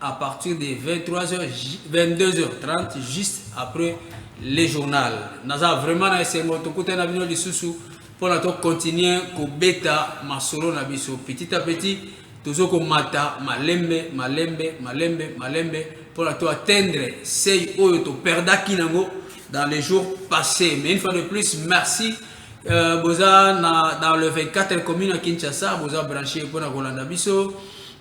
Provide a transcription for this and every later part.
à partir de 23h 22h30 juste après le journal naza vraiment na esengo tokuta na bino lisusu mpona tokontinue kobeta masolo na biso petit à petit tozo komata malembe malembe malembe malembe mpona to atteindre sei oyo toperdaki nango dans les jours passés mais une fois de plus merci euh, boza na, dans le 24 commune ya kinshasa boza branche mpona kolanda biso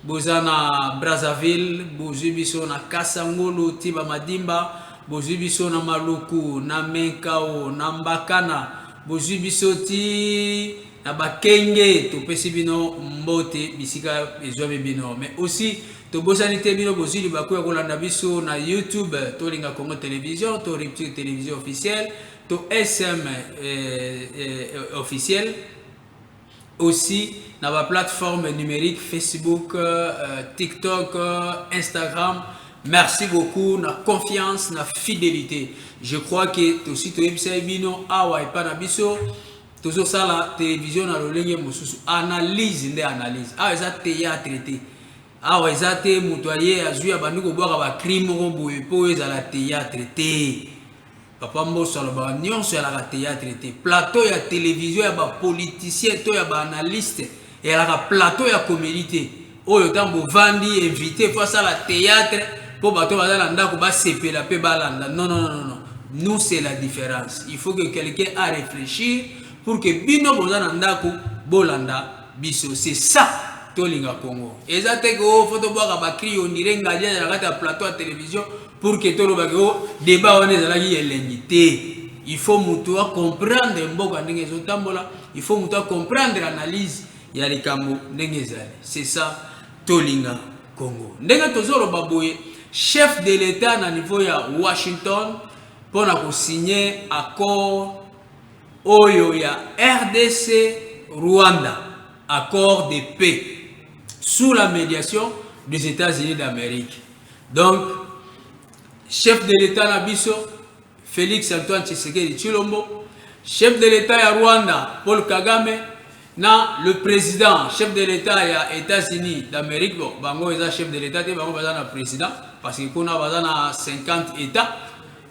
Boza na Brazzaville bozui biso na kasa ngulu ti ba madimba bozui biso na maluku na menkao na mbakana bozui biso ti na bakenge topesi bino mbote bisika ezuami bino mais aussi tobosani te bino bozui libaku ya kolanda biso na youtube tolinga congo television to rupture television officielle to sm eh, eh, officielle Aussi na ba plateformes numeriques Facebook, TikTok, Instagram. Merci beaucoup na confiance na fidelite. Je crois que tosi toyebisaki bino awa epa na biso tozosala television na lolenge mosusu analyse nde analyse awa eza théâtre te awa eza te moto aye azwi abandi kobwaka bacrime moko boye mpo ezala théâtre te Papa Mboso alobaka nionso eyalaka theatre te. Plateau ya television ya ba politiciens to ya ba analystes eyalaka plateau ya comedie te. Oyo tango bovandi invite il faut asala theatre po bato baza na ndaku basepela pe balanda. Non non non non nous c'est la difference il faut que quelqu'un a reflechir pour que bino boza na ndaku bolanda biso c'est ça tolinga Congo eza te que oh faut tobwaka ba cri on dirait ngadia na kati ya plateau ya télévision pour que tolobaki o oh, débat wana ezalaki elengi te il faut moto acomprendre mboka ndenge ezotambola il faut moto acomprendre analyse ya likambo ndenge ezali c'est ça tolinga congo ndenge tozoloba boye chef de l'état na niveau ya washington mpo na kosigne accord Oyo ya rdc Rwanda accord de paix sous la mediation des Etats Unis d'Amerique donc chef de l'Etat na biso Felix Antoine Tshisekedi Tshilombo chef de l'Etat ya Rwanda Paul Kagame na le président chef de l'Etat ya Etats Unis d'Amerique bon bango eza chef de l'Etat te bango baza na président parce que kuna baza na 50 Etats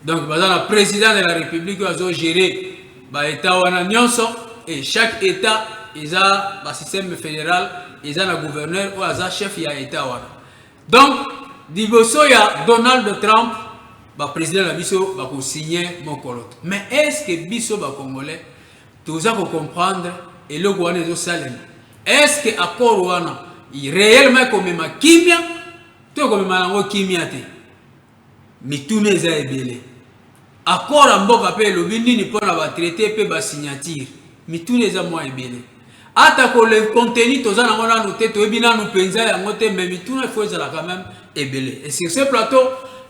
donc baza na president de la republique oyo azo gérer ba etat wana nyonso et chaque etat eza ba système fédéral eza na gouverneur oyo aza chef ya etat wana donc liboso ya donald trump baprésident na biso bakosigne mokolo te mais est ce que biso bacongolais toza kocomprendre eloko wana ezosalema est ce que accord wana réellement ekomema kimia to ekomema yango kimia te Mituna eza ebele. Accord ya mboka pe elobi nini pona ba traites pe ba signatures? Mituna eza mua ebele. Ata ko le contenu toza na yango nanu te, toyebi nanu penza yango te mais mituna il faut ezala quand meme ebele. Et sur ce plateau,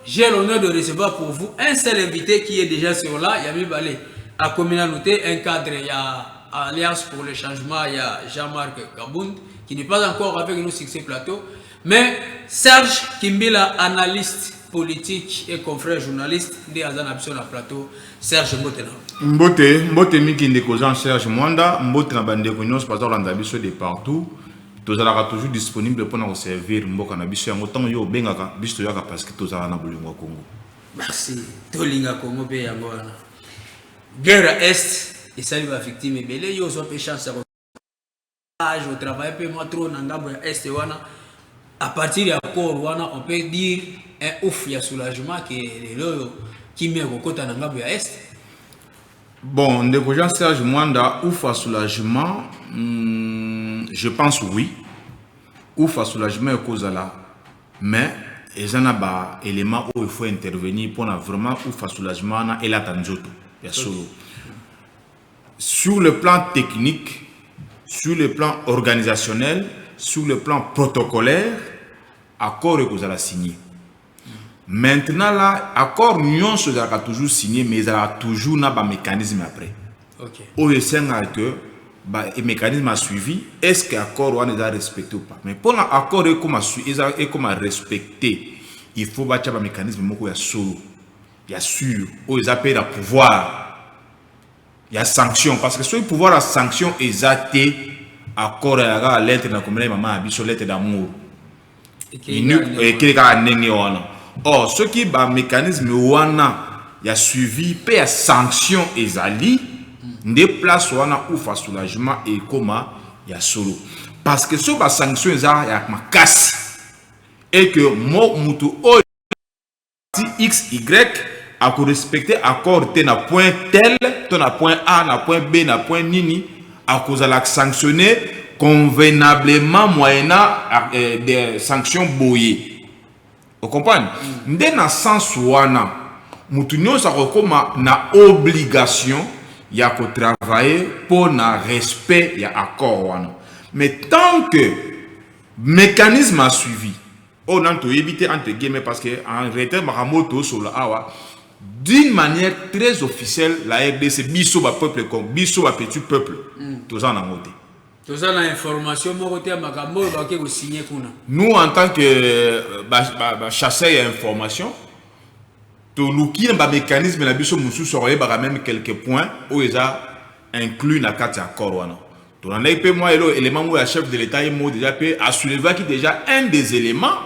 j'ai l'honneur de recevoir pour vous un seul invite qui est dejà sur là, ya mibale akomi nanu te, un cadre ya Alliance pour le changement ya Jean-Marc Kabund qui n'est pas encore avec nous sur ce plateau. Mais Serge Kimbila analyste politique et confrère journaliste nde aza na biso na plateau. Serge mbote na. Mbote, mbote miki ndeko Jean Serge Mwanda, mbote na bandeko nyonso baza kolanda biso de partout. tozalaka toujours disponible mpo na koservir mboka na biso yango ntango yo obengaka biso toyaka parce que tozala na bolingo ya congo merci tolinga congo mpe yango wana guerre est esali bavictime ebele yo ozwa mpe chance ya age au travail pe moi trop na ngambo ya est wana à partir ya corps wana on peut dire un ouf ya soulagement que lelo oyo kimia ekokota na ngambo ya est bon ndeko jean serge mwanda ouf ya soulagement hmm, je pense oui ouf ya soulagement ekozala mais eza na baélément oyo faut intervenir mpona vraiment ouf ya soulagement wana elata nzoto ya solo okay. Sur le plan technique, sur le plan organisationnel, sur le plan protocolaire, accord ekozala signé. Maintenant là, accord nyonso ezalaka toujours signé, mais ezalaka toujours na ba mécanisme après. Ok. Oyo esengaka que ba e mécanisme a suivi, est-ce que accord wana eza respecté ou pas? Mais mpo na accord ekoma su- eza ekoma respecté, il faut batya ba mécanisme moko ya solo, ya sûr, oyo eza mpe na pouvoir. ya sanction parce que soki pouvoir ya sanction eza te accord ya kaka lettre na komela mama ya biso lettre d'amour ekeli kaka ndenge wana or soki ba mécanisme wana ya suivi mpe ya sanction ezali nde place wana ufa soulagement ekoma ya solo parce que soki ba sanction eza ya makasi et que mo moto oyo ti x y ako respecter accord te na point tel to na point a na point b na point nini akozala sanctionner convenablement moyennant eh, des sanctions boye okomprendre mm. nde na sens wana moto nyonso akokoma na obligation ya kotravailler mpo na respect ya accord wana mais tant que mécanisme a suivi Oyo nanu toyebi te entre guillemets parce que en retraite makambo oyo tosolola awa d'une manière très officielle la rdc biso ba peuple comme biso ba petit peuple mm. toza nango te toza na information moko te ya makambo oyo bake kosigne kuna nous en tant que euh, bachasseur ya information toluki na bamécanisme na biso mosusu akoyebaka meme quelques points oyo eza inclus na kati ya accord wana Tolandaki pe mwa elo element moko ya chef de l'Etat ye moko dejà pe a soulevaki dejà un des elements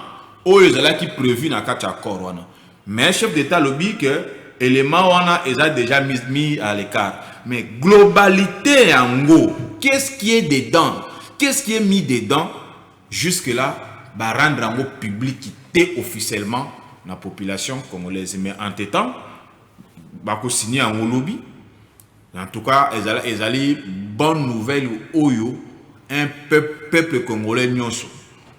oyo ezalaki prevu na kati ya accord wana. Mais chef d'Etat alobi que element wana eza dejà mis mis à l'ecart. Mais globalite yango qu'est ce qui est dedans? Qu'est ce qui est mis dedans? Jusque là ba rendre yango public te officiellement na population congolaise. Mais entre temps bako signer yango lobi. En tout cas ezali ezali bonne nouvelle oyo un peuple peuple congolais nionso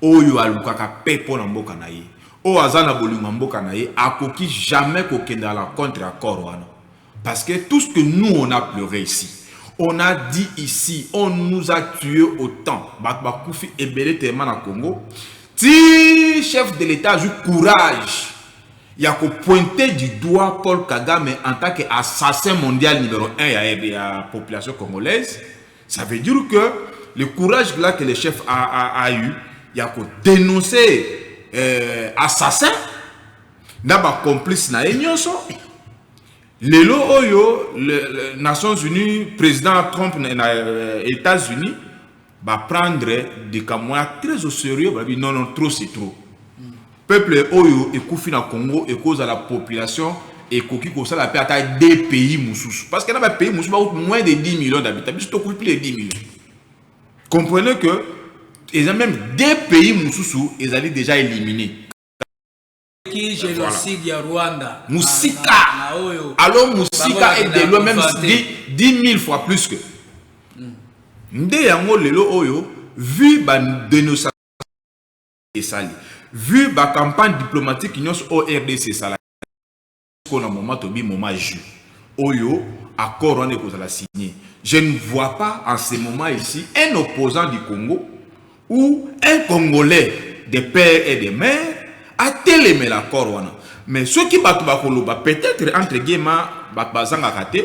oyo alukaka paix pona mboka na ye oyo aza na bolingo ya mboka na ye akoki jamais kokenda à la contre accord wana parce que tout ce que nous on a pleure ici on a dit ici on nous a tue autant bato bakufi ebele telema na Congo ti chef de l'etat azwi courage ya ko pointer du doigt Paul Kagame en tant que assassin mondial numero un ya RD ya population congolaise, ça veut dire que le courage là que le chef a, a, a eu ya ko denoncer euh, assassin na ba complices na ye nyonso lelo oyo le, le Nations Unies président Trump na, na euh, États-Unis ba prendre likambo wana très au serieux balobi non non trop c'est trop peuple oyo ekufi na congo ekozala population ekoki kosala mpe ata de pays mosusu parce que na bapays mosusu bakuti moins de 10 millions d'habitant biso tokufi plus de 10 millions comprenez que eza même de pays mosusu ezali déjà éliminé musika alors musika est de loin même 10 000 fois plus que hmm. nde yango lelo oyo vu ba dénonciation esali vu ba campagne diplomatique nyonso au rdc esalaki sikoyo na moment tobi moment ya jus oyo accord wana ekozala signe je ne vois pas en ce moment ici un opposant du congo ou un congolais de père et de mère atelemela accord wana mais soki bato bakoloba peut-être entre guema bato bazangaka te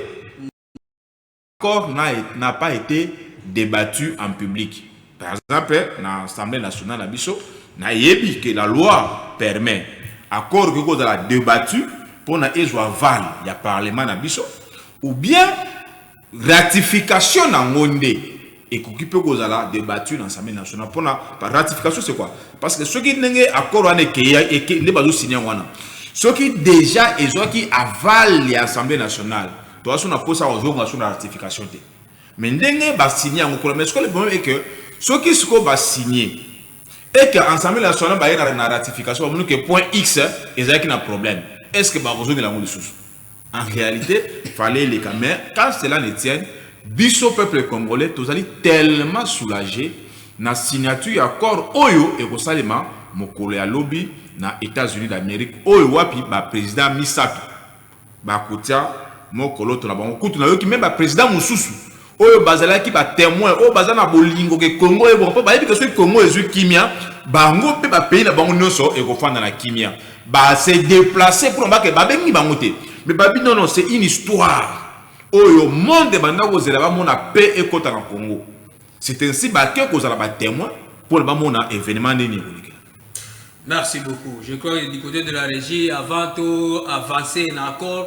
L'accord n'a pas ete debattu en public. Par exemple, na Assemblée nationale na biso, nayebi que la loi permet accord ekoki kozala debattu mpo na ezwa aval ya parlement na biso ou bien ratification na yango nde Ekoki pe kozala debattu na Assemblee nationale pona ba ratification c'est quoi? Parce que soki ndenge accord wana ekeya eke nde bazo signer yango wana soki dejà ezwaki aval ya Assemblee nationale toza so na posa ya kozonga so na ratification te mais ndenge ba signer yango kuna mais sikoyo le problème est que soki sikoyo ba signer et que Assemblee nationale baye na ratification bamoni que point X ezalaki na problème est-ce que bakozongela yango lisusu? En réalité, fallait les mais quand cela ne tient, biso peuple congolais, tozali tellement soulagé na signature ya accord oyo ekosalema mokolo ya lobi na États-Unis d'Amérique oyo wapi ba président misato bakotia mokoloto na bango kutu nayoki meme ba président mosusu oyo bazalaki ba temoin oyo baza na bolingo ke Congo ebonga mpo bayebi ke soki Congo ezwi kimia bango mpe ba pays na bango nyonso ekofanda na kimia ba se deplacer mpo na bake babengi bango te mais babi non non c'est une histoire oyo monde banda kozela bamona paix ekota na Congo c'est ainsi bake kozala ba temoin mpo na bamona événement nini ekoleka Merci beaucoup. Je crois que du côté de la régie, avant tout, avancer en accord,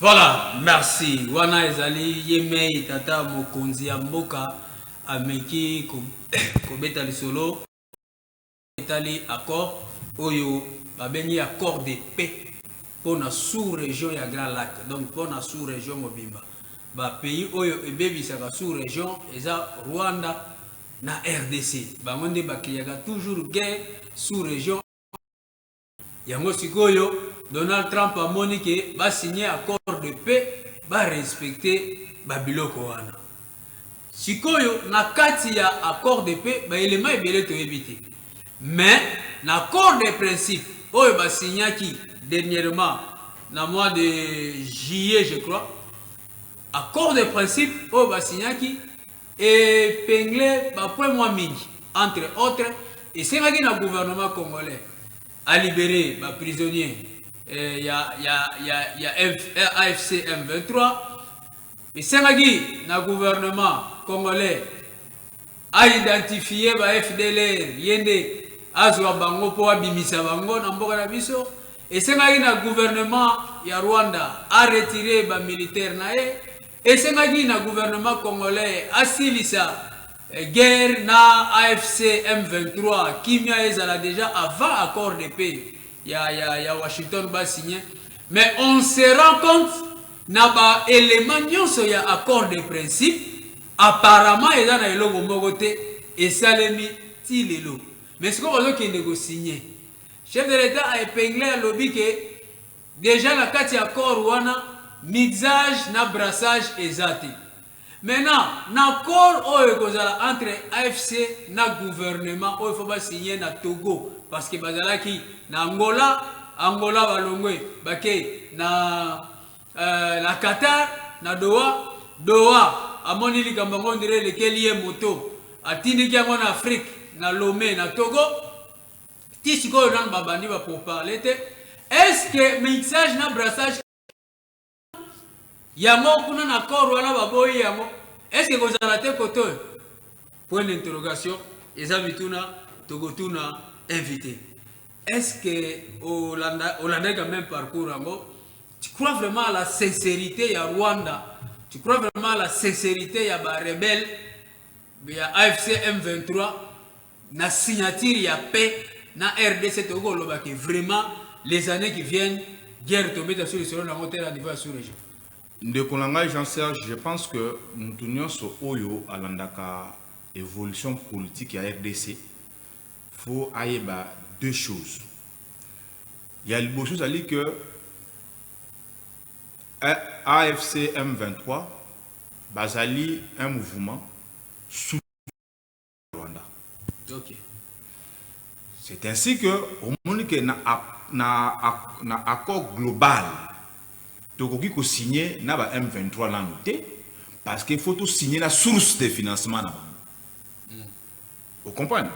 Voilà merci wana ezali ye mei tata mokonzi ya mboka ameki kobeta lisolo etali accord oyo babengi accord de paix mpo na sous region ya grand lac donc mpo na sous region mobimba ba pays oyo ebebisaka sous region eza rwanda na rdc bango nde bakriaka toujours guerre sous region Yango sikoyo Donald Trump amoni ke ba signe accord de paix ba respecter ba biloko wana. Sikoyo na kati ya accord de paix ba elements ebele toyebi te. Mais na accord de principe oyo ba signaki dernièrement na mois de juillet je crois accord de principe oyo ba signaki Epeingler ba points mwa mingi, entre autres, esengaki na gouvernement congolais a liberer ba prisonniers ya ya ya ya AFC M23, esengaki na gouvernement congolais a identifier ba fdlr ye nde azwa bango mpo abimisa bango na mboka na biso, esengaki na gouvernement ya Rwanda a retirer ba militaires na ye, Esengaki na gouvernement congolais asilisa guerre na afc M23 kimia ezala dejà avant accord de paix ya, ya, ya Washington ba signe mais on se rend compte na ba element nyonso ya accord de principe apparemment eza na eloko moko te esalemi ti lelo mais sikoyo bazokende kosigne chef de l'etat a epingle alobi ke Dejà na kati ya corps wana mixage na brassage eza te. Maintenant n'accord oyo ekozala entre afc na gouvernement oyo faut ba signer na Togo parce que bazalaki na Angola, Angola balongwe bake na na Qatar na Doha, Doha amoni likambo yango on dirait elekeli ye moto atindiki yango na Afrique na Lome na Togo. Ti sikoyo nanu ba bandi ba pour parler te. Est ce que mixage na brassage yango kuna na corps wana ba boyi yango? Est ce que kozala te kote oyo? Point d'interrogation eza mituna tokotuna invité. Est ce que olanda olandaki quand même parcours yango? Tu crois vraiment à la sincérité ya Rwanda? Tu crois vraiment à la sincérité ya ba rebelles ya AFC M23? na signature ya paix na rdc tokoki koloba ke vraiment les années qui viennent guerre tobeta sur lisolo na yango te na niveau ya sous région ndeko na ngai jean serge je pense que motu nyonso oyo alandaka évolution politique ya rdc faut ayeba deux choses ya liboso ezali que afc m23 bazali un mouvement Rwanda. Ok. C'est ainsi que omoni que na, na, na accord global tokoki kosigne na ba M23 nanu te parce qu'il faut tosigne na source de financement na bango. Mm. Vous comprenez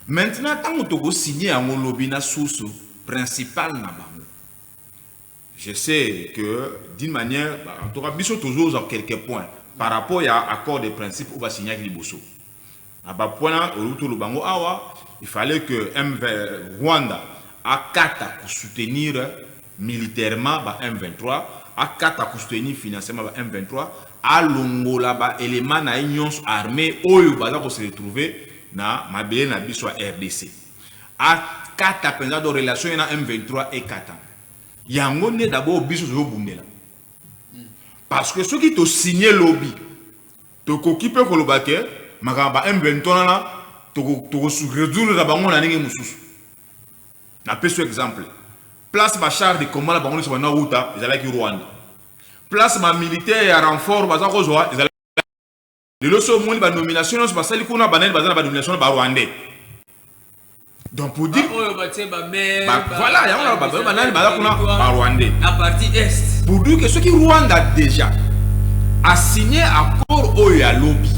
Maintenant, ntango tokosigne yango lobi na source principale na bango Je sais que d'une manière en tout cas biso tozo za quelques points par rapport ya accord de principe oba signaki liboso na ba points oyo to lobango awa il fallait que MV Rwanda akata ko soutenir militairement ba M23 akata ko soutenir financièrement ba M23 alongola ba éléments na ye nyonso armée oyo baza ko se retrouver na mabele na biso ya RDC akata penza do relation ye na M23 ekatana yango nde dabord biso tozobundela parce que soki tosigne lobi tokoki mpe koloba ke makambo ba m23 wana tokoresoudre na bango na ndenge mosusu napesi yo exemple place bachar de combat na bango nyonso banda wuta ezalaki rwanda place bamilitaire ya renfort baza kozwa ezalaki lelo so omoni ba nomination nyonso basali kuna banani baza na ba nomination na ba rwandais donc pour dire oyo batie ba maire ba, voilà yango na bato banani baza kuna ba rwandais na partie est pour dire que soki rwanda déjà a signé accord oyo ya lobi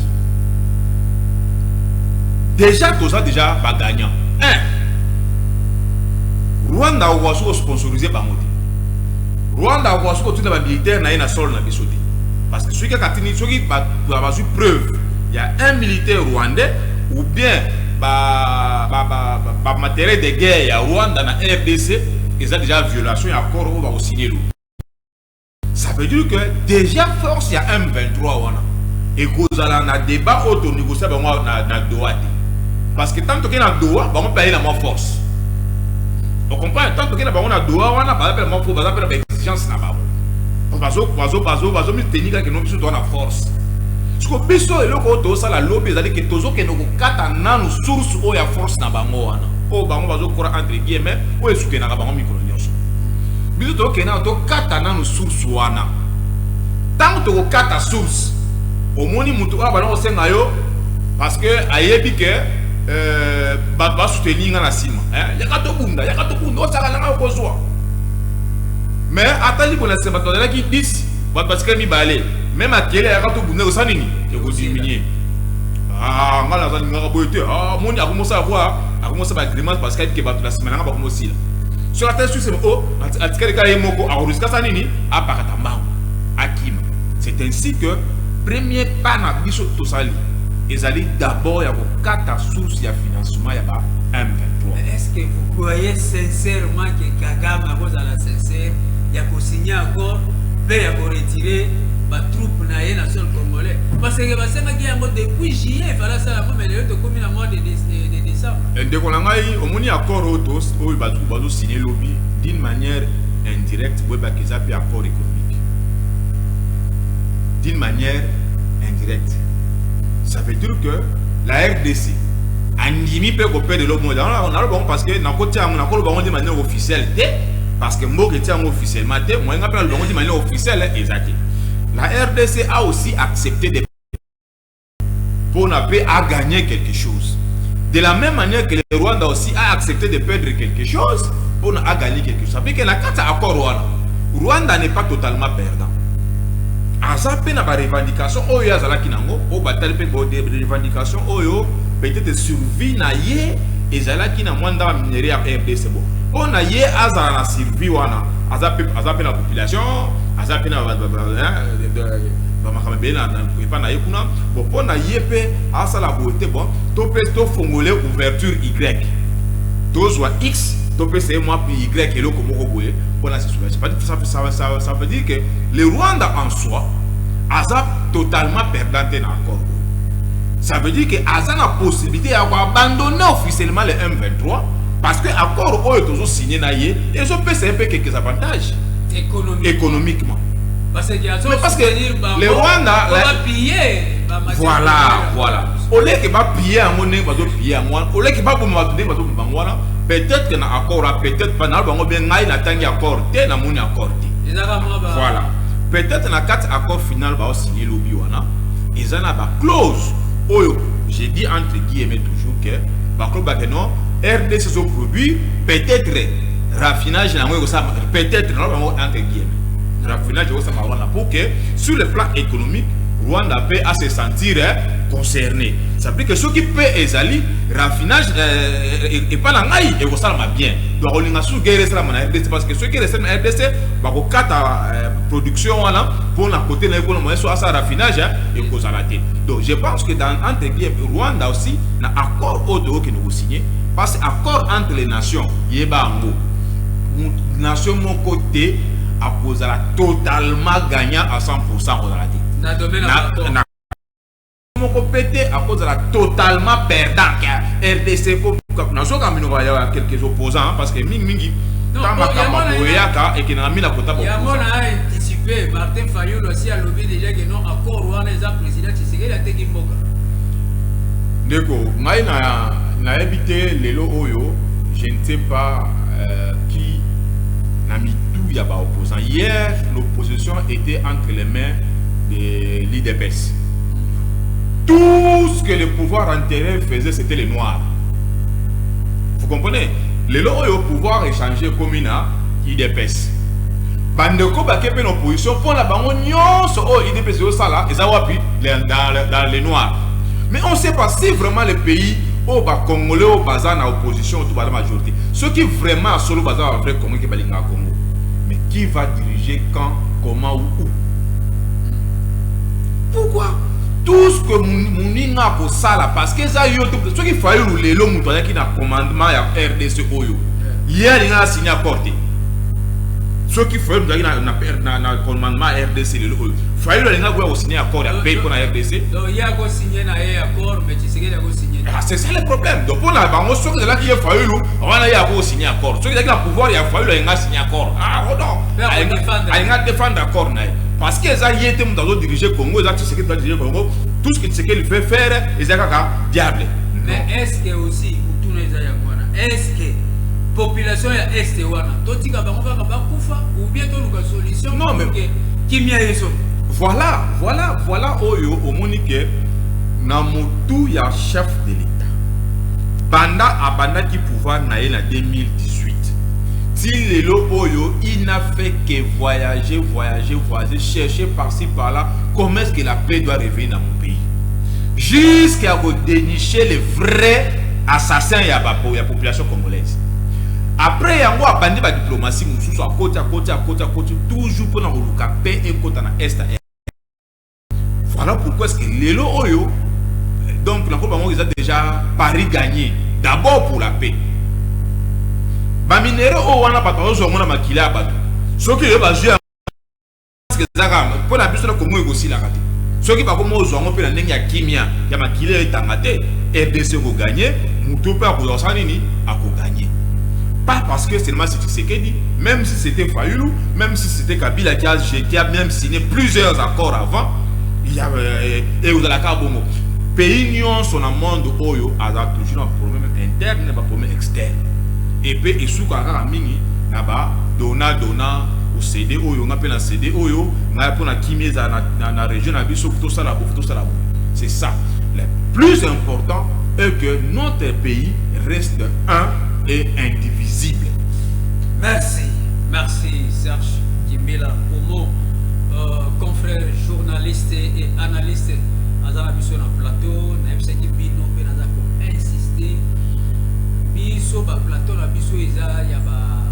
déjà toza déjà ba gagnant un rwanda okoka soki osponsorise bango te rwanda akoka soki otuna bamilitaire na ye na solo na biso te Parce que soki kaka atindi soki ba bazui preuve ya un militaire rwandais ou bien ba ba ba, ba, ba matériel de guerre ya Rwanda na RDC eza déjà violation ya accord oyo ba signer lo. Ça veut dire que déjà force ya M23 wana ekozala na débat oyo to négocier bango na, na Doha te. Parce que tant que na Doha bango paye na moi force. On comprend tant que na bango na Doha wana ba appelle moi force, ba appelle ba exigence na bango. bazo bazo bazo bazo mi tenir kaka no biso to na force siko biso eloko oyo tozosala lobi ezali ke tozokende kokata nanu source oyo ya force na bango wana oyo bango bazokora entre guillemets oyo esukenaka bango mikolo nyonso biso tokende nano tokata nanu source wana ntango tokokata source omoni moto oyo abanda kosenga yo parce que ayebi ke euh, bato basoutenir nga na nsima yaka tobunda yaka tobunda osaka nanga okozwa mais ata libo na sema tozalaki 10 bato batikali mibale me makele ayaka tobunda kosa nini ekodiminue ah, ngai naza lingaka boye te ah, moni akomosa avoir akomosa baagrimence parce que ayebike bato na nsima na ngai bakomosila soki ata susi o oh, atikali kaka ye moko akorusikasa nini apakata mbango akima c'est ainsi que premier pas na biso tosali ezali d'abord ya kokata source ya financement ya ba m23 est ce que vous croyez sincèrement que kagame akozala sincère ya kosigne accord mpe ya koretire batroupe na ye na sol congolais parce que basengaki yango depuis juillet efala asala yango mais lelo tokomi na mois de décembre eh, ndeko na ngai omoni accord oyo oyo bazosigne lobi d'une manière indirecte boyebaka eza mpe accord économique d'une manière indirecte ça veut dire que la rdc andimi mpe kopede lobo naloba yango parce que nakoti yango nakoloba yango nde manière officiel te parce que mboka etia yango officiellement te moyen nga mpe naloba yango ti manière officielle eza te la rdc a aussi accepté de mpo na mpe a gagner quelque chose de la même manière que le rwanda aussi a accepté de perdre quelque chose mpo na a gagner quelque chose apike na kati ya accord wana rwanda n'est pas totalement perdant aza mpe na barevendication oyo ye azalaki nango oyo batali mpe barevendication oyo peut-être survie na ye ezalaki na mwa ndanga minerais ya RDC bo mpo na ye azala na survie wana aza mpe aza mpe na population aza mpe na bamakambo ebele epa na ye kuna bo mpo na ye mpe asala boye te bon to mpe tofongole ouverture y tozwa x topesa ye mwa y eloko moko boye mpo na sesoulage ça veut dire que le rwanda en soi aza totalement perdant te na accord Ça veut dire que aza na possibilité ya ko abandonner officiellement le M23 parce que accord oyo tozo signer na ye ezo pesa pe quelques avantages économiquement. économiquement. Parce que azo Mais parce que le Rwanda la... piller voilà voilà au lieu que ba piller en monnaie bazo piller en monnaie au lieu que ba boma bazo bazo bangwana peut-être que na accord peut-être pas na bango bien ngai na tangi accord te na moni accord te voilà peut-être na quatre accord final ba signer lobi wana eza na ba clause oyo je dis entre guillemets toujours que ba clause ba que non RDC zo produit peut-être raffinage na yango ekosala peut-être na yango entre guillemets raffinage ekosala wana pour que sur le plan économique Rwanda mpe a se sentir eh, concerné ça veut dire que soki mpe ezali raffinage eh, eh, epai na ngai ekosalama bien donc akolinga suki eresalama na rdc parce que soki eresalama na rdc bakokata production wana pona kote na ye kuna moyen so asala raffinage hein, ekozala te donc je pense que dans entre guillemets rwanda aussi na accord oyo toyokende kosigne parce accord entre les nations yeba yango nation moko te akozala totalement gagnant à 100 pourcent kozala te moko pe te akozala totalement perdant ke rdc ekobuka nazoka minoko ya quelques opposants parce que mingi mingi ta makambo boyaka ekendaka mina kota yango na anticipe martin fayulu asi alobi deja ke non accord wana eza président tshisekedi ateki mboka ndeko ngai nayebi te lelo oyo je ne sais pas euh, qui na mitu ya baopposant hier l'opposition était entre les mains de l'idps tout ce que le pouvoir antérieur faisait c'était les noirs vous comprenez lelo oyo pouvoir échange ekomi na idps bandeko bake mpe na opposition mpo na bango nyonso oyo idps ezosala eza wapi dans les noirs mais on sait pas si vraiment le pays oyo bacongolais oyo baza na opposition to baza majorité soki vraiment ya solo baza ba vrai congo ke balingaka congo mais qui va diriger quand comment ou où Pourquoi tout ce que muninga akosala parce que eza yo te soki fayulu lelo moto ayaki na commandement ya rdc oyo ye alinga na signe accord te soki fayulu moto ayaki na commandement ya rdc lelo oyo fayulu alinga koya kosigne accord ya paix mpo na rdc ah, c'est ça le problème donc mpo na bango soki ezalaki ye fayulu wana ye ako signe accord soki ezalaki na pouvoir ya fayulu alinga signe accord ah, alinga defendre accord na ye parce que eza ye te moto azo dirige congo eza tshisekedi azo dirige congo tout ce que tshisekedi fait faire eza kaka diable mais est ce que aussi motuna eza yango wana est ce que population ya est wana totika bango kaka bakufa ou bien toluka solution non mais kimia yeso voilà voilà voilà oyo omoni ke na motu ya chef de l'état banda abandaki pouvoir na ye na 2018 ti lelo oyo il n'a fait que voyager, voyager, voyager, chercher par-ci par-là, comment est-ce que la paix doit revenir dans mon pays Jusqu'à vous dénicher les vrais assassins ya ba ya population congolaise. Après yango abandi ba diplomatie mususu akoti akoti akoti akoti toujours pona koluka paix ekota na est Voilà pourquoi est-ce que lelo oyo donc na koba ngo eza déjà Paris gagné d'abord pour la paix. Ba minere o wana bato ozo mona makila ya bato. Soki yo bazwi ya ezaka mpo na biso na Congo ekosilaka te. Soki bakoma ozwa yango mpe na ndenge ya kimia ya makila etanga te, RDC ekoganye, moto mpe akozwa kosala nini? Akoganye. Pas parce que seulement c'est Tshisekedi, même si c'était Fayulu, même si c'était Kabila qui a, qui a même si signer plusieurs accords avant ya euh, ekozala kaka bongo pays nyonso na monde oyo aza toujours na problème interne ba problème externe epe esukaka kaka mingi na ba dona dona osede oyo nga mpe na sede oyo ngai mpo na kimia ezala na, na, na région na biso tosala bof tosala bo c'est ça le plus important est que notre pays reste un et indivisible merci merci serge Kimbila Momo, euh, confrère journaliste et analyste aza na biso na plateau nayebisaki bino mpe naza ko insister biso ba plateau na biso eza ya ba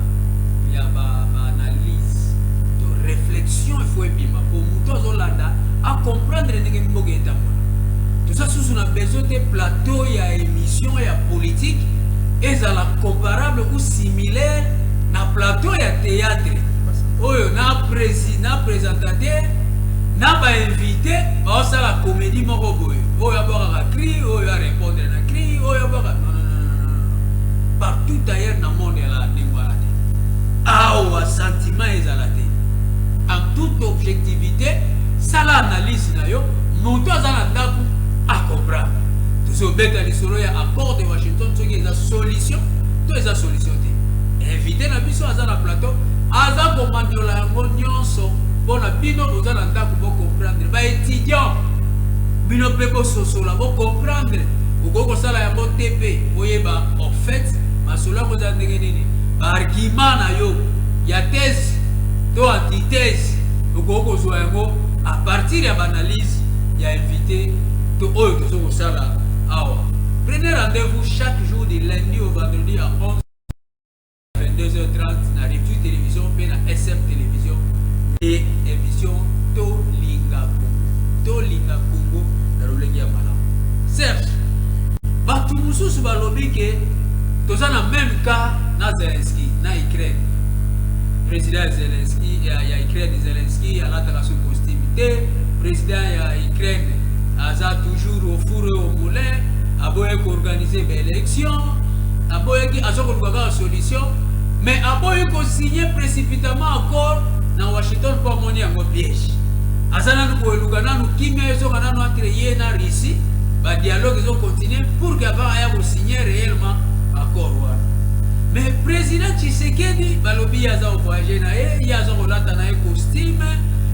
ya ba, ba analyse to réflexion il faut ebima mpo moto azolanda acomprendre ndenge mboka etambola toza susu na besoin te plateau ya émission ya politique ezala comparable ou similaire na plateau ya theatre oyo na presi na presentateur na ba invite baosala komedi moko boye oyo abwakaka cri oyo arepondre na cri oyo abwaka partout ailleurs na monde ya la ndenge wana te awa sentiment ezala te en toute objectivité sala analyse na yo moto aza na ndako acomprendre tozobeta lisolo ya accord de washington soki eza solution to eza solution te invité na biso aza na plateau aza komandola yango nyonso mpo na bino boza na ndako bocomprendre baétudiant bino mpe bososola bocomprendre okoki kosala yango te mpe oyeba en fait masolo yango eza ndenge nini baargument na yo ya thèse to antithèse okoki kozwa yango à partir ya baanalyse ya invité to oyo tozo kosala awa prenez rendez-vous chaque jour de lundi au vendredi 22h30 na Revue Television mpe na SM Television nde emission Tolinga Congo. Tolinga Congo na lolenge ya malamu. Serge, bato mosusu balobi ke toza na meme cas na Zelensky na Ukraine. Président ya Zelensky ya, ya Ukraine Zelensky alataka su costume te. Président ya Ukraine aza toujours au four et au moulin, aboye koorganize baélection aboyaki aza koluka kaka solution mais aboyi kosigne précipitamment accord na washington mpo amoni yango piège aza nanu koeluka nanu kimia ezonga nanu entre ye na russie badialogue ezokontinue pour que avant aya kosigne réellement accord wana mais président tshisekedi balobi ye aza kovoyage na ye ye aza kolata na ye costume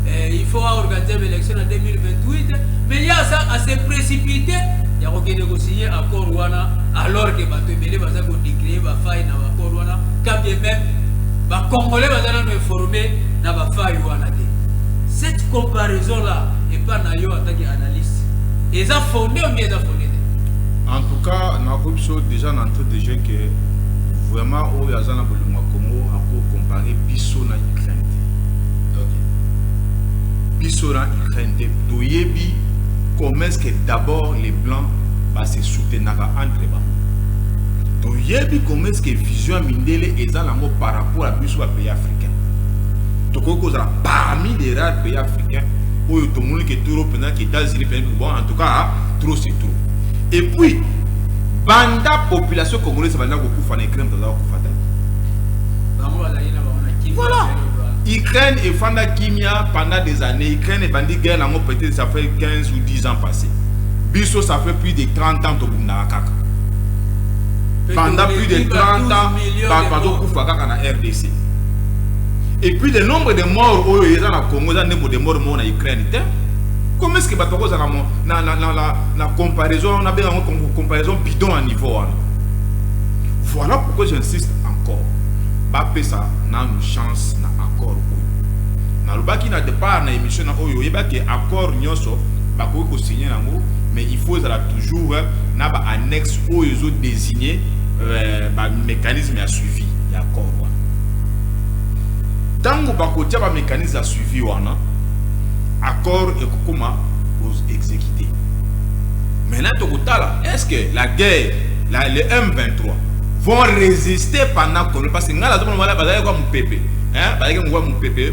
eh, il faut aorganize baélection na 2028 mais ye aza ase précipité ya kokende kosigne accord wana alors que bato ebele baza ko decree ba faille na ba port wana quand bien même ba congolais baza nano informe na ba faille wana te cette comparaison là epa na yo ataki analyste eza fonde omi eza fonde te en tout cas nakoki biso déjà na entrée de jeu que vraiment oyo aza na bolingo ya congo ako compare biso na ukraine te biso na ukraine te toyebi comment est ce que d'abord les blancs ba se soutenaka entre bango toyebi comment ce que vision ya mindele eza nango par rapport ya biso ba pays africain tokoki kozala parmi les rares pays africain oyo tomoni ke toro mpenza ke états-unis mpenza bon en tout cas trop c'est trop et puis banda population congolaise banda kokufa na ukraine baza kokufa te voilà Ukraine et Fanda Kimia pendant des années. Ukraine et Bandi guerre, peut-être ça fait 15 ou 10 ans passés. biso ça fait plus de 30 ans tobundaka kaka pendant plus de 30 ans bato bazokufa kaka na rdc et puis le nombre de morts oyo eza na congo eza ndembo de mort moko na ukraine te comme est ce que bato bakozala na, na, na, na, na comparaison nabenga yango comparaison bidon ya niveau wana voilà pourquoi j'insiste encore bapesa nanu chance na accord oyo nalobaki na départ na émission na oyo oyebaki accord nyonso bakoki ko signer nango mais il faut ezala toujours euh, na ba annexe oyo ezo désigner euh, ba mécanisme ya suivi ya accord wana ntango bakotia ba mécanisme ya suivi wana accord ekokoma exécuté maintenant tokotala est ce que la guerre la, le m23 vont résister pendant combien parce que ngai nazomona bazalaki kwa mopepe bazalaki mokwa mopepe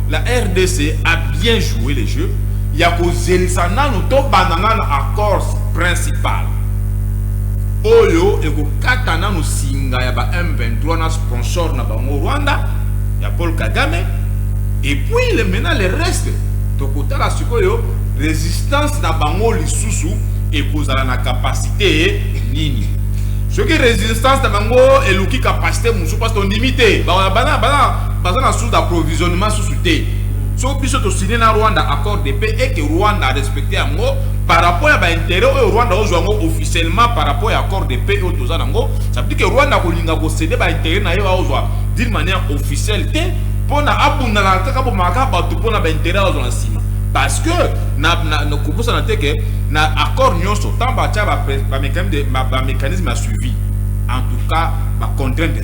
La rdc a bien joue le jeu ya kozelisa nanu tobanda nanu accords principal oyo ekokata nanu singa ya ba M23 na sponsor na bango Rwanda ya Paul Kagame et puis le maintenant le reste tokotala sikoyo resistance na bango lisusu ekozala na capacité nini soki resistance na bango eluki capacité mosusu parce tondimi te bana bana baza na source d'approvisionnement susu te so biso to signer na Rwanda accord de paix et que Rwanda a respecter yango par rapport ya ba intérêt oyo Rwanda ozwa yango officiellement par rapport ya accord de paix oyo toza nango ça veut dire que Rwanda kolinga ko céder ba intérêt na ye ozwa d'une manière officielle te pona abunda na kaka bomaka bato pona ba intérêt ozwa na nsima parce que na na na kokosa na teke na accord nyonso tant ba tia ba ba mécanisme ba mécanisme à suivi en tout cas ba contraintes des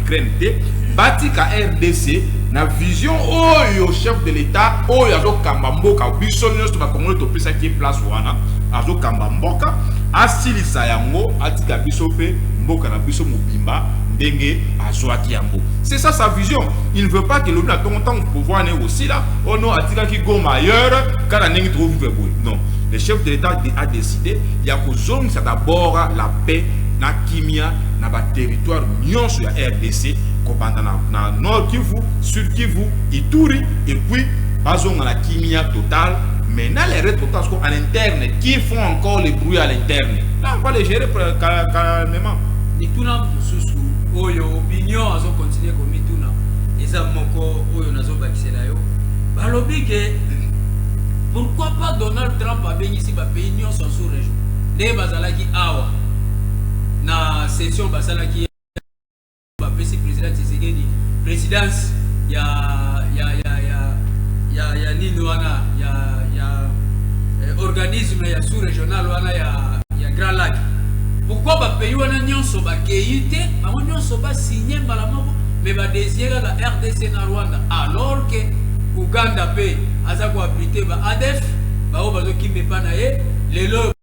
Ukraine te batika rdc na vision oyo chef de l'etat oyo azokamba mboka biso nyonso bakongole topesaki ye place wana azokamba mboka asilisa yango atika biso mpe mboka na biso mobimba ndenge azwaki yango c'est ça sa vision il ne veut pas que lobi na ntongo ntango pouvoir naye kosila oh ono atikaki goma ailleurs kaka ndenge tokovivre boye non le chef de l'état a décidé ya kozongisa d'abord la paix na kimia na ba territoire nyonso ya rdc kobanda na, na nord kivu sud kivu ituri et puis bazonga na kimia total mais na les retrotance ko à l'interne qui font encore les bruits à l'interne là on va les gérer calmement mituna mosusu oyo opinion azo continue komituna eza moko oyo nazobakisela yo balobi ke pourquoi pas donald trump abengisi bapays nyonso sous région nde bazalaki awa na session basalaki bapesi president Tshisekedi presidence ya ya ya ya ya ya nini wana ya ya eh, organisme ya sous régional wana ya ya Grand Lac pourquoi ba pays wana nyonso ba keite bango nyonso ba signer mbala moko mais ba désigner la RDC na Rwanda alors que Ouganda pe aza ko abriter ba ADF baoyo bazokimba epa na ye lelo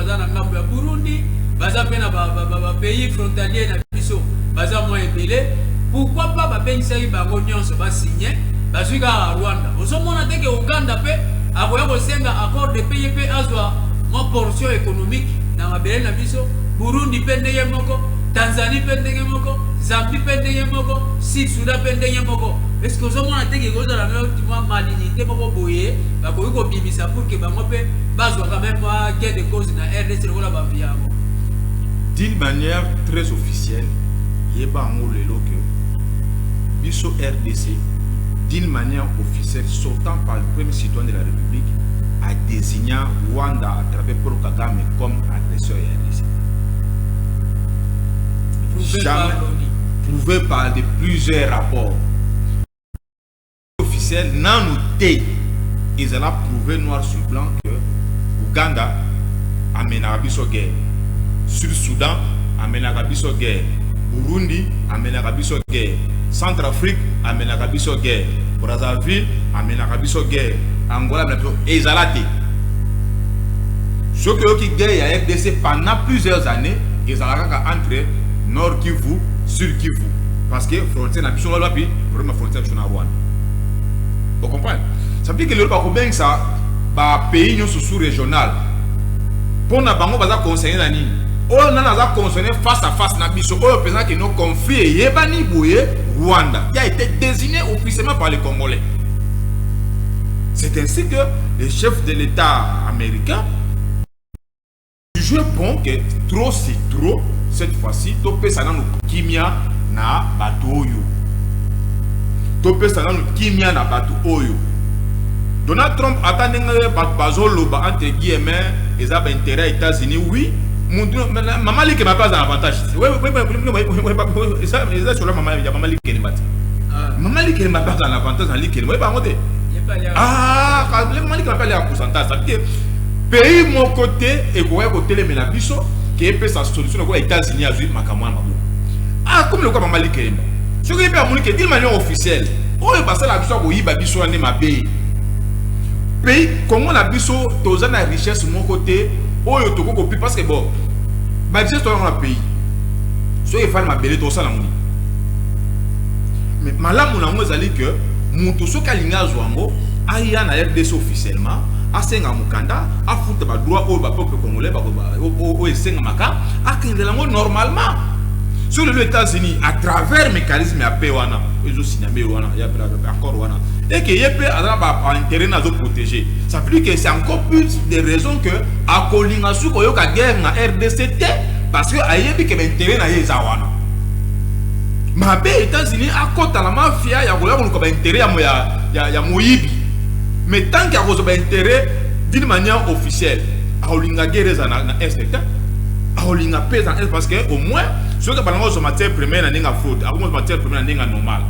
baza na ngambo ya Burundi baza pe na ba, ba, ba, ba pays frontalier na biso baza mwa ebele pourquoi pas babengisaki bango nyonso basigne bazwi kaka Rwanda ozomona te ke Uganda pe akoya kosenga accord de paye pe azwa mwa portion économique na mabele na biso Burundi pe ndenge moko Tanzanie pe ndenge moko Zambie pe ndenge moko Sud Sudan pe ndenge moko eske ozomona te ke kozala mwa malinite moko boye bakoki kobimisa pour ke bango pe bazwa quand même ah, gain de cause na rdc lokola bato yango d'une manière très officielle yeba yango lelo que biso rdc d'une manière officielle sortant par le premier citoyen de la république a désigné rwanda à travers paul kagame comme agresseur ya rdc prouvé par de plusieurs rapports officiel nanu te ezala prouve noir sur blanc que Ouganda amenaka biso guerre Sud Soudan amenaka biso guerre Burundi amenaka biso guerre Centre Afrique amenaka biso guerre Brazzaville amenaka biso guerre Angola amenaka biso ezala te soki oyoki guerre ya RDC pendant plusieurs années ezalaka kaka entre Nord Kivu Sud Kivu parce que frontière na biso wapi problème ya frontière biso na rwanda ocomprendre ça veut dire que lelo bakobengisa bapays nyonso sous régional mpo na bango baza conseille na nini oyo nani aza concerné face à face na biso oyo mpenza kino conflit eyebani boye rwanda qui a été désigné officiellement par les congolais c'est ainsi que le chef de l'état américain Je prends que trop c'est trop cette fois-ci topesa nanu kimia na bato oyo topesa nanu kimia na bato oyo donald trump ata ndenge bato bazoloba entre guillemets eza baintérêt ya états-unis oui mama likema mpe aza avantage eza solo mama ya mama likelemba te mama likelemba mpe aza na avantage na likelemba oyebango te mama likelemba mpe ale ya pourcentage sabi te Pays moko te ekoka kotelemela biso ke epesa solution lokola Etats Unis azui makambo wana maboko. Ah comme lokola mama Likeyemba. Soki ye pe amoni ke d'une manière officielle oyo basala biso ya koyiba biso wana nde mabe. Pays Congo na biso toza na richesse moko te oyo tokoki kopi parce que bon ba richesse toza na pays soki efali mabele tokosala yango mais malamu na yango ezali que moto soki alingi azwa yango aya na rdc officiellement asenga mokanda afuta ba droit oyo ba peuple congolais ba oyo esenga maka akendela ngo normalement sur les États-Unis à travers mécanisme ya paix wana ezo signaler wana ya accord wana et que yep azala ba intérêt nazo protéger ça veut dire que c'est encore plus des raisons que akolinga su koyoka guerre na RDC te parce que ayebi que intérêt na ye eza wana mabe États-Unis akota na mafia ya koya koluka ba intérêt ya ya, ya, ya moyibi Mais tant que akozwa ba intérêt d'une manière officielle, akolinga guerre za na, na est te. Akolinga paix en est parce que au moins soki abalanga kozwa matière première na ndenge ya fraude, akomwa matière première na ndenge ya normal.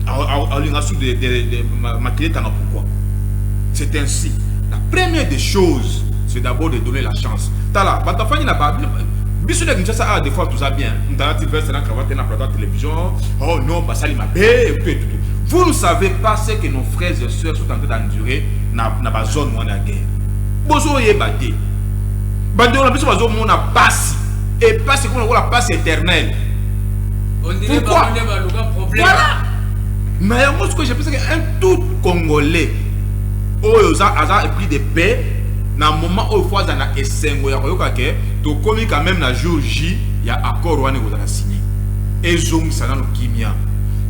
Akolinga su de, de, de, makili etanga pourquoi. C'est ainsi. La première des choses, c'est d'abord de donner la chance. Tala, batafani na ba biso na Kinshasa ah des fois tout ça bien. Mtala ti veste na cravate na plateau télévision. Oh non, basali mabe et tout et tout. Vous ne savez pas ce que nos frères et sœurs sont en train d'endurer na, na ba zone wana ya guerre bozoyeba te bandeko na biso bazomona pasi e pasi ekoma lokola pasi éternel pourquoi voilà na yango sikoyo jepesaki un tout congolais oyo aza epris de paix na moment oyo fo aza na esengo ya koyoka ke tokomi quand même na jour j ya accord wana ekozala signe ezongisa nano kimia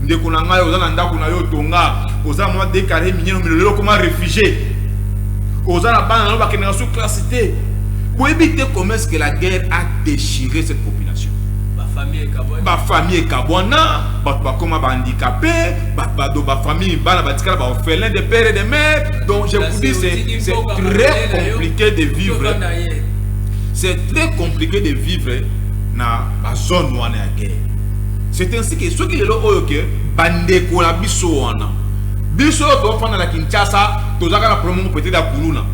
ndeko na ngai oza na ndako na yo tonga oza mwa de carré minene omelo lelo okoma réfugié oza na bana na yo bakendaka so classe te boyebi te comment est ce que la guerre a déchiré cette population bafamille ekabwana bato bakoma bahandikape bato bafamille bana batikala baorphelin de père et de mère donc je vous dis c'est très compliqué de vivre c'est très compliqué de vivre na bazone wana ya guerre c'est ainsi que soki lelo oyo ke bandeko na biso wana biso oyo tofanda na kinshasa tozalaka na problème moko peut-être ya kuluna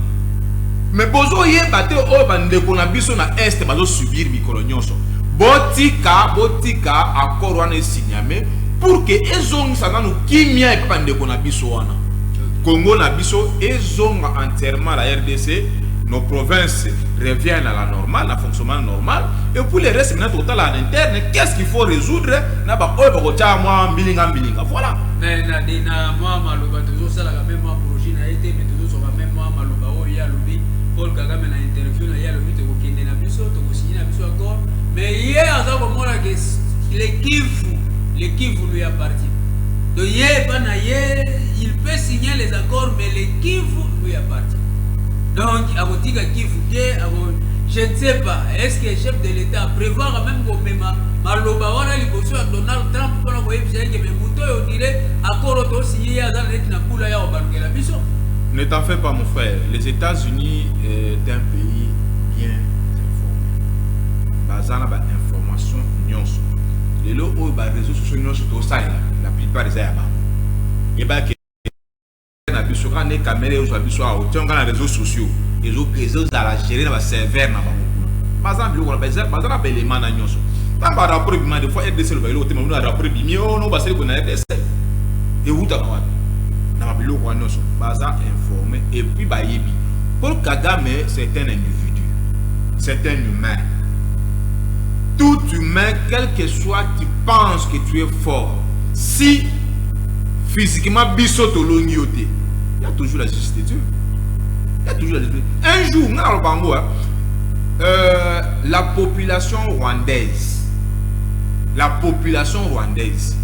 mais bozoyeba te oyo bandeko na biso na est bazosubir mikolo nyonso botika botika accord wana esinyame pour ke ezongisa nanu kimia epai bandeko na biso wana congo na biso ezonga entièrement la rdc nos provinces reviennent à la normale na fonctionnement normal normal et puis le reste maintenant tokotala en interne qu'est-ce qu'il faut résoudre na ba oyo bakotia mwa mbilinga mbilinga voilà mais na de na mwa maloba tozosalaka meme mwa projet na ye te mais tozozwaka meme mwa maloba oyo ye alobi paul kagame na interview na ye alobi tokokende na biso tokosinye na biso accord mais ye aza komona ke le kivu le kivu lui appartient donc ye epa na ye il peut signer les accords mais le kivu lui appartient donc akotika kivu te ako Je ne sais pas, est-ce que chef de l'Etat a prevoir même komema maloba wana liboso ya Donald Trump mpona koyebisa ye kebe moto oyo dire akoro tosinye ye aza na neti na kula ya kobalukela biso Ne t'en fais pas mon frère, les États-Unis euh, est un pays bien informé. Baza na ba information nyonso. Lelo oyo ba réseaux sociaux nyonso tosalela, la plupart eza ya bango. Yebaki na biso kaka nde kamere ezwa biso awa otia ngai na réseaux sociaux ezozala géré na baserveur na bango kuna baza na biloko baza na baelema na nyonso ntango barapport ebima de fois rdc elobaki eloko te mamino ya rapport ebimi ono oh basali kona rdc ewutaka wapi na babiloko wana nyonso baza informe epuis bayebi paul kagame c'est un individu c'est un humain tout humain quel que soit tu penses que tu es fort si physiquement biso tolongi yo te ya toujours la justice de dieu ya toujours la justice un jour nga naloba yango euh, la population rwandaise la population rwandaise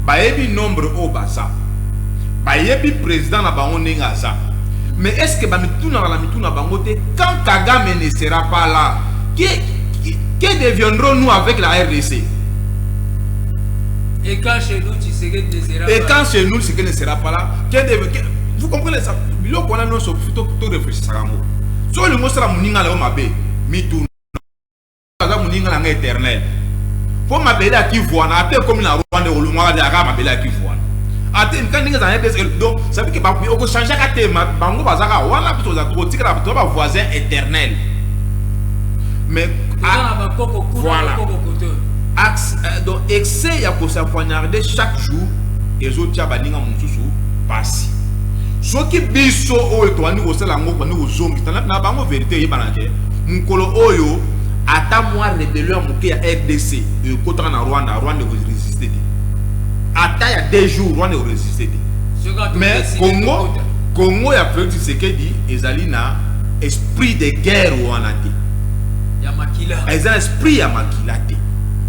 bayebi nombre oyo baza bayebi président na bango ndenge aza mais est ce que bamitunaka na mituna bango te quand kagame ne sera pas là que, que deviendrons nous avec la rdc et quand chez nous Et quand c'est nous, c'est qu'elle ne sera pas là. Vous comprenez ça Biloko wana nyonso to réfléchissaka yango. So olingi osala moninga na yo mabe, mituna aza moninga na ngai éternel. Mpo mabele ya kivuana ata ekomi na Rwanda olongwaka te aka mabele ya kivuana. Ate nka ndenge ezala ndenge donc ça veut dire que okochangeaka te bango bazaka wana biso oza kotikala bato ba voisin éternel. Mais ah, voilà. donc excès ya ko sa poignarder chaque jour ezo tia baninga mosusu pasi soki biso oyo tobandi kosala yango bandi kozongisa na bango verité eyebana te mokolo oyo ata mwa rebellion ya moke ya rdc ekotaka na rwanda rwanda ekoresiste te ata ya deux jours rwanda ekoresiste te mais congo congo ya felix tshisekedi ezali na esprit de guerre wana te ya makila eza esprit ya makila te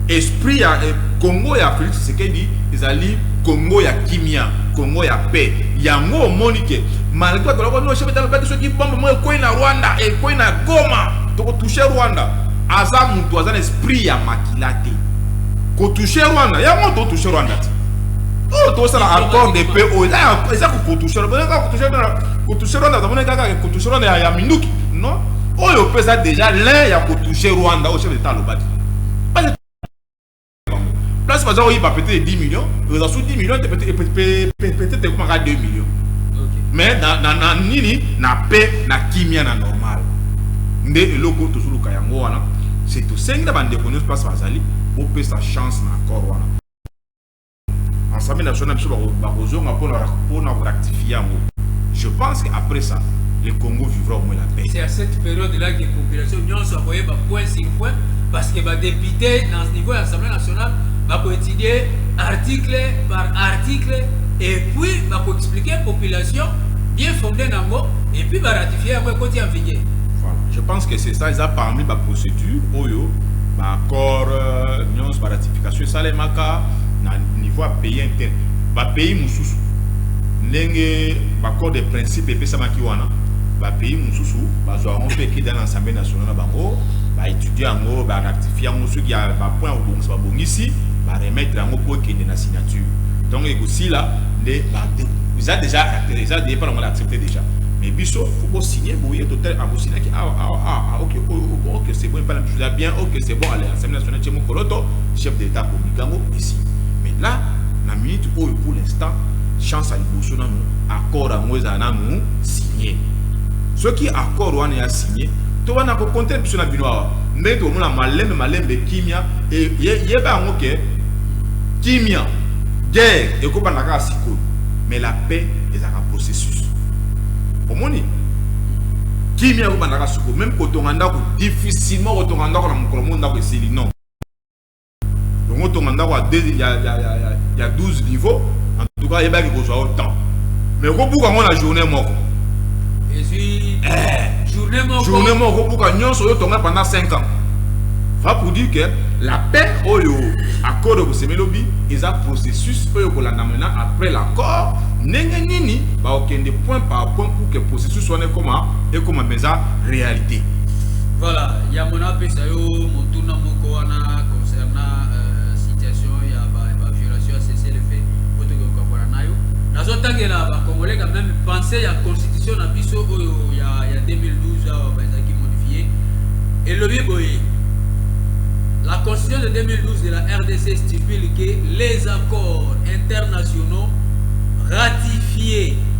esprit ya eh, Congo ya Felix Tshisekedi ezali Congo ya kimia Congo ya paix yango omoni ke malgré bato baloko no chef d'etat baki soki bombe moko ekwei na Rwanda ekwei na Goma tokotouche Rwanda aza moto aza na esprit ya makila te kotouche Rwanda yango totouche Rwanda te oyo tosala accord de paix oyo eza kotouche Rwanda kotouche Rwanda ya minduki non oyo mpe eza deja lin ya kotouche rwanda oyo chef d'etat alobaki place baza koyiba peut-être 10 millions oza su 10 millions peut-être ekomaka 2 millions mais na nini na pe na kimia na normal nde eloko tozoluka yango wana se tosengi na bandeko nyonso place bazali bopesa chance na accord wana Ensemble national biso bakozonga mpona mpona korectifie yango. Je pense que après ça le Congo vivra au moins la paix. C'est à cette période là que population nyonso akoyeba point sur point parce que ba députés dans ce niveau ya Assemblée nationale bakoétudier article par article et puis bakoexpliquer population bien fondée nango et puis baratifier yango ekoti en vigueur. Voilà. Je pense que c'est ça eza parmi baprocédure oyo baaccord euh, nyonso baratifier Kasi esalemaka na niveau ya pays inter ba pays mosusu ndenge ba corps de principe epesamaki wana ba pays mosusu bazwa yango mpe ekeda na assemblée nationale na bango ba étudier yango ba rectifier yango soki ya ba point ya kobongisa babongisi ba remettre yango mpo ekende na signature donc ekosila nde ba eza déjà eza depa na yango na accepte déjà mais biso faut bosigne boye total akosignaki awa awa awa ok oyo ok c'est bon epai na biso eza bien ok c'est bon allez assemblée nationale Monsieur Mokoloto, chef de l'État akomi kango ici. Mais là, na minute oyo pour l'instant, chance à liboso nanu accord yango ezala nanu signé. Soki accord wana ya signé, to wana ko compter biso na bino awa. Ndenge tokomona malembe malembe kimia e yeba yango ke kimia guerre ekobanda kaka sikoyo mais la paix ezalaka processus. Omoni? Kimia yo bandaka suko meme kotonga ndako difficilement kotonga ndako na mokolo mo ndako esili non. Dongo tonga ndako ya ya ya ya ya 12 niveau en tout cas yebaki kozwa au temps. Mais okobuka ngo na journée moko. Ezui eh, journée moko. Journée moko okobuka nyonso yo tonga pendant 5 ans. Va pour dire que la paix oyo accord de Semelobi est un processus oyo kolanda maintenant après l'accord ndenge nini ba okende point par point pour que processus wana ekoma ekoma mpenza réalité voilà yango napesa yo motuna moko wana concernant euh, situation ya baviolation ya cessez le fait po toke kokabola na yo nazotangela bacongolais quand même pensé ya constitution na biso oyo ya, ya 2012 awa bazalaki modifie elobi boye La constitution de 2012 de la RDC stipule que les accords internationaux ratifiés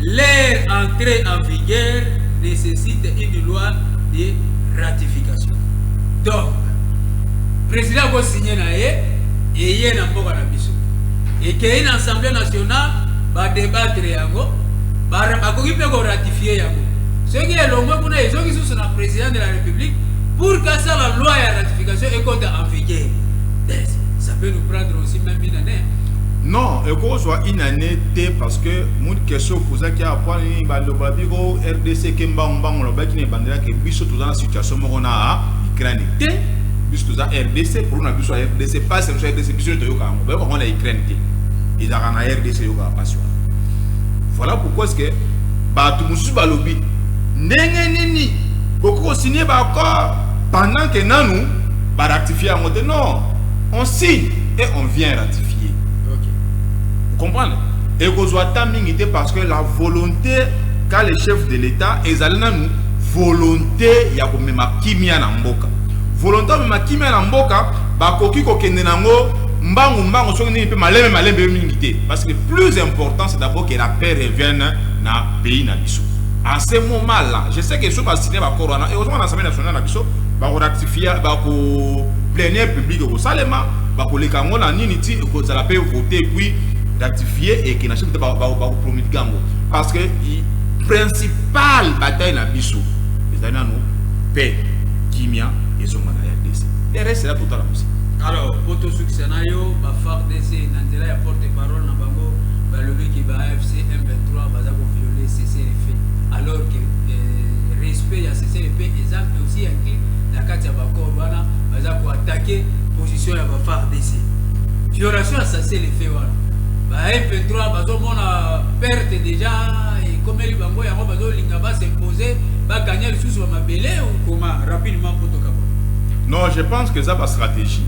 Leur entree en vigueur necessite une loi de ratification. Donc, president ako signer na ye eye na mboka na biso. Ekei na Assemblée nationale ba débattre yango, bakoki mpe ko ratifier yango. Soki elongwe kuna ezongi susu na president de la République pour kasala loi ya ratification ekota en vigueur. Ça peut nous prendre aussi même une année. Non, ekozwa une année te parce que Mut question opozaki awa mpo nini baloba biko rdc ke mbangu mbangu lobaki na ebandela ke biso toza na situation moko na Ukraine te biso toza rdc problème na biso ya rdc pasi na biso ya rdc biso toyoka yango bayoka yango na Ukraine te ezalaka na rdc eyokaka pasi wana voilà pourquoi ce que bato mosusu balobi ndenge nini bokoki kosigne baaccord pendant ke nanu baratifie yango te non on signe et on vient ratifier okay. comprendre Ekozua ata mingi te parce que la volonte qu'a le chef de l'Etat ezali nanu volonte ya komema kimia na mboka. Volonte ya komema kimia na mboka bakoki kokende na yango mbangu mbangu soki nini mpe malembe malembe mingi te parce que plus important c'est d'abord que la paix revienne na pays na biso. En ce moment là, je sais que soki ba signer ba accord wana et ozonga na Assemblée nationale na biso ba ko ratifier ba ko plénière publique ekosalema bakoleka yango na nini ti ekozala mpe vote puis ratifier et que na chef ba ba ba promulguer yango parce que principal bataille na biso ezali nanu paix kimia ezonga na rdc le reste ela totala mosi alors po tosukisa na yo ba fardc na nzela ya porte parole na bango balobi ke ba afc m23 baza koviole ccrf alors que euh, respect ya ccrf eza aussi inclus na kati ya bacor wana baza koatake position ya ba fardc violation ya ccrf te wana ba M23 bazomona perte deja ekomeli bango yango bazolinga basimpose baganya lisusu ba mabele okoma rapidement mpo tokaba non je pense que eza bastratégie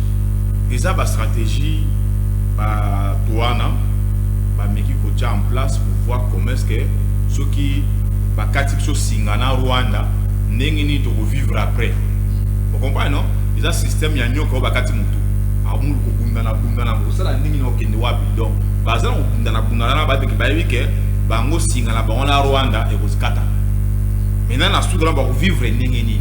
eza bastratégie bato wana bameki kotya en place pour voir comment est ce que soki bakati biso singa na rwanda ndenge nini tokovivre après okomprane non eza système ya nyoka oyo bakati motu amulu kobundana bundana sala ndenge na okende wapi donc baza na kobundana bundana na bato bayebi ke bango singa na bango na rwanda ekozikata maintenant na sud wana bakovivre ndenge nini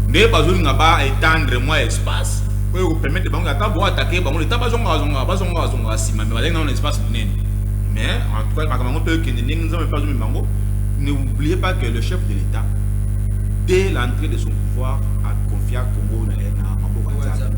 nde bazolinga ba etendre mwa espace oyo ekopermettre bango ata boatake bango leta bazongazonga bazongazonga nsima me bazali nao na espace monene mais en tout cas makambo yango mpe ekende ndenge nzambe mpe azomi bango ne oubliez pas que le chef de l'état dès l'entrée de son pouvoir aconfia congo na maboko ya nzambe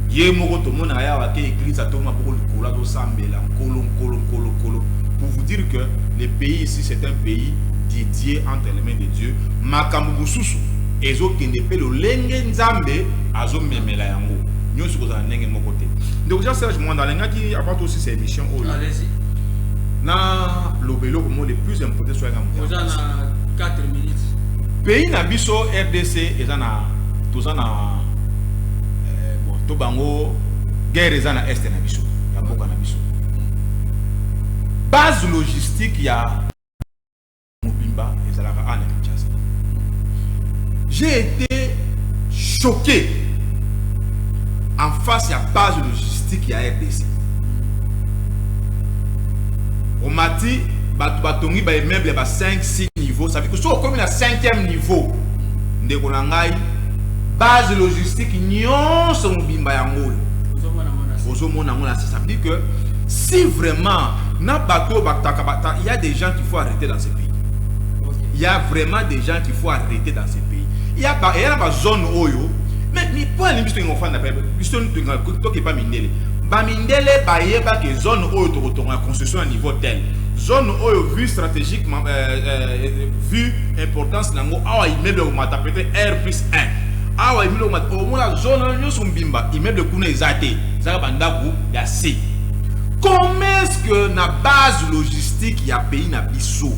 ye moko tomona ye awa ke eglise atomi maboko likolo azosambela nkolo nkolo nkolo nkolo pour vous dire que le pays ici c'est un pays dédié entre les mains de dieu makambo mosusu ezokende mpe lolenge nzambe azomemela yango nyonso kozala ndenge moko te ndeko jean serge mwanda alingaki avant tosisa émission oyo na loba eloko mo le plus important soyanga moto pays na biso rdc eza na toza na eh, bon to bango guerre eza na est na biso ya mboka na biso base logistique ya mobimba ezalaka ana kinshasa j'ai été choqué en face ya base logistique ya rdc omati bato batongi ba immeuble ya ba 5 6 niveau ça veut dire que soki okomi na 5e niveau ndeko na ngai base logistique nyonso mobimba yango oyo ozomona yango na sisa dit que si vraiment na bato oyo bataka bata il y a des gens qu'il faut arrêter dans ce pays il y a vraiment des gens qu'il faut arrêter dans ce pays il y a ba, il y a ba zone oyo mais mi po alingi biso tolinga kofanda pe biso tolinga tokepa mindele bamindele bayeba ke zone oyo tokotonga construction ya niveau tel zone oyo vue stratégiquement euh, euh, vue importance na yango awa immeuble komata peut-être r plus 1 awa immeuble komata omona zone wana nyonso mbimba immeuble kuna eza te ezaka bandako ya se comment est-ce que na base logistique ya pays na biso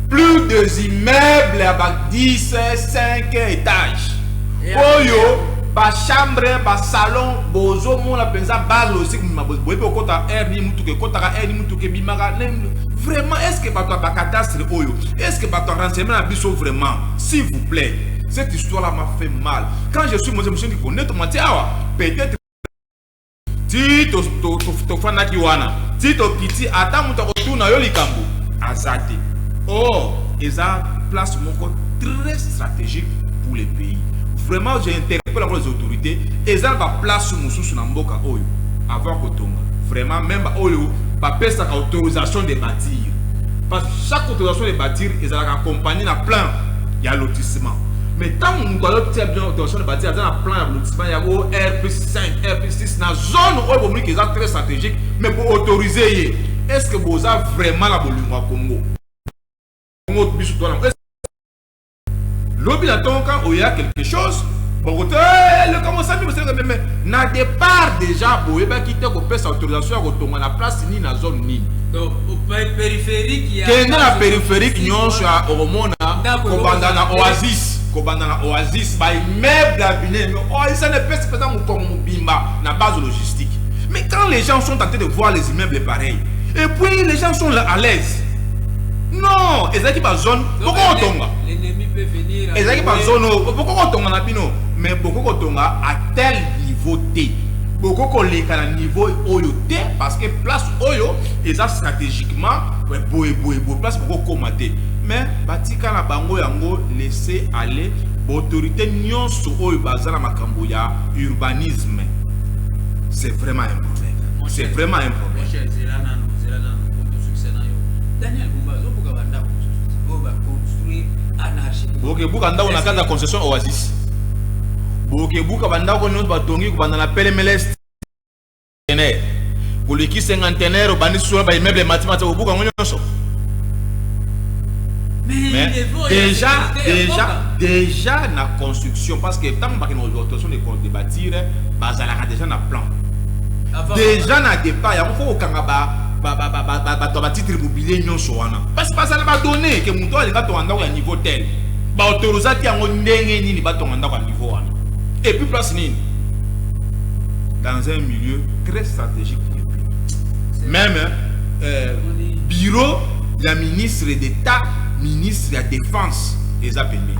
plus des immeubles ya ba 10 5 étages oyo bachambre basalon bozomona mpenza base logistique mbimba boyebi okota r ni motuka ekotaka r ni motuka ebimaka Vraiment, est-ce que bato ya bakadastre oyo, est-ce que bato ya renseignement na biso vraiment, s'il vous plaît, cette histoire-là m'a fait mal. Quand je suis monté, je me suis dit, bonnet, on dit, ah, peut-être, ti tofanaki wana ti tokiti ata moto akotuna yo likambo aza te or eza place moko très stratégique pour les pays vraiment j'ai interpelle encore les autorités eza na baplace mosusu na mboka oyo avant kotonga vraiment même baoyo bapesaka autorisation de batir parce que chaque autorisation de batir ezalaka accompagne na plan ya lotissement mais ntango moto azotia bien autorisation de batir aza na plan ya lotissement ya o r plus 5 r plus 6 na zone oyo bomoniki eza très stratégique mais boautorise ye est ce que boza vraiment na bolingo ya congo congo biso twana Lobi na tongo quand oya quelque chose bokoto eh, leka mosami bosenga meme na départ déjà boyebaki te kopesa autorisation ya kotonga na place nini na zone nini kende na périphérique nyonso ya okomona kobanda na oasis kobanda na oasis baimmeuble ya bine oasis ana epesi mpenza mokongo mobimba na base logistique mais quand les gens sont en train de voir les immeubles pareils et puis les gens sont là à l'aise non ezalaki bazone bokoki kotonga ezalaki bazono bokoki kotonga na bino mais bokoki kotonga à tel niveau te bokoki koleka na niveau oyo te parce que place oyo eza stratégiquement boye boye boye place bokoki koma te mais batika na bango yango laisser aller baautorité nyonso oyo baza na makambo ya urbanisme c'est vraiment un problème c'est vraiment un problème Daniel Bumba azobuka banda bokebuka ndako na kati ya concession oasis bokebuka bandako nyonso batongi kobanda na pelemelest contenaire koleki cinquantenaire obandi sura baimmeuble emati mati bobuka yango nyonso déjà déjà déjà na construction parce que ntango bakende autorisation de bâtir bazalaka déjà na plan déjà na départ yango fo kokanga ba bato ya batitre mobilie nyonso wana parce baza na badonne ke moto alinga tonga ndako ya niveau tel baautorisaki yango ndenge nini batonga ndako ya niveau wana epuis place nini dans un milieu très stratégique pour le même euh, bureau ya ministre d'état ministre ya défense eza pembeni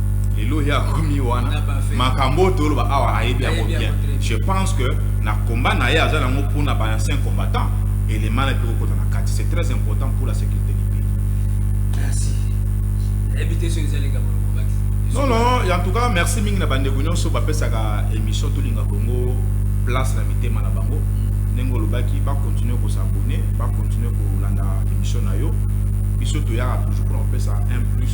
lelo ya komi wana makambo oyo toloba awa ayebi yango bien je pense que na combat na ye aza nango mpona ba ancien combattant elema na ekoki kokota na kati c'est très important pour la sécurité du pays merci nayebi te soki ezali likambo lokobaki non non en tout cas merci mingi na bandeko nyonso bapesaka émission tolinga kongo place na mitema na bango mm. ndenge olobaki bakontinue kosabone bakontinue kolanda émission na yo biso toyaka toujours mpona kopesa un plus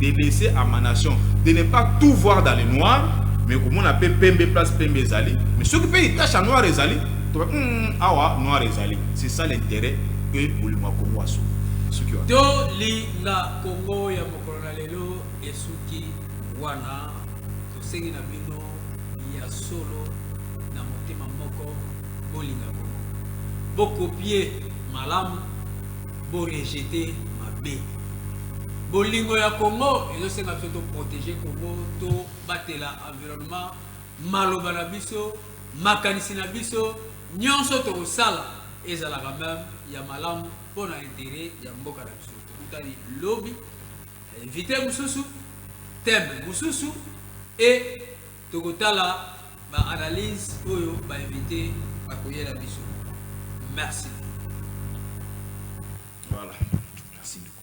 de laisser à ma nation de ne pas tout voir dans le noir mais komona mpe pembe place pembe ezali mais soki mpe itache ya noir ezali toba mm, awa noir ezali c'est ça l'intérêt que bolingo ya kongo aso soki wana tolinga kongo ya mokolo na lelo esuki wana tosengi na bino ya solo na motema moko bolinga kongo bokopie malamu Bo rejete mabe. Bolingo ya Congo ezo senga biso to protege Congo, to batela environnement, maloba na biso, makanisi na biso, nionso toko sala ezalaka meme ya malamu pona interet ya mboka na biso. Tokutani lobi invite mususu, theme mususu et Tokotala ba analyse oyo ba invite bakoyela biso. Merci. Voilà. Merci beaucoup.